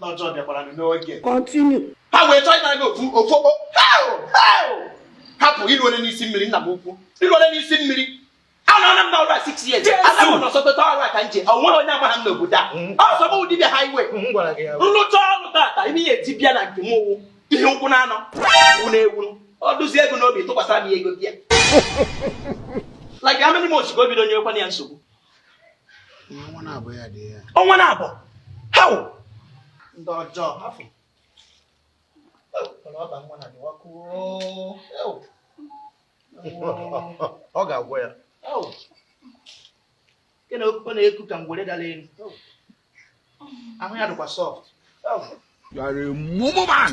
Lọ́jọ́ dẹ̀ padà nínú ọ̀gẹ̀. Continue. Báwo ẹjọ́ ìgbà náà ofu ofu ọ hapụ ilu ole n'isi mmiri nna m ukwu ilu ole n'isi mmiri anọ na mba ọrụ six years ana m nọ sọpeta ọrụ a ka nje o nweghị onye agbaghị m n'obodo a mm. ọ sọ bụ dibịa highway nlụcha mm, ọrụ tata ime ihe eti bịa na nke m ụwụ ihe ụkwụ na anọ wụ na ewuru ọ dụzie ego n'obi tụkwasara m ya ego bịa like how many months ka o bido nyewekwana ya nsogbu ọnwa naabọ ya dị ya ọnwa naabọ how ndị ọjọọ hafụ ọba nwa na dịwa kwuo ọ ga-agwọ ya nke na okpukpe na-eku ka ngwere dara elu ahụ ya dịkwa soft You are a mumu man.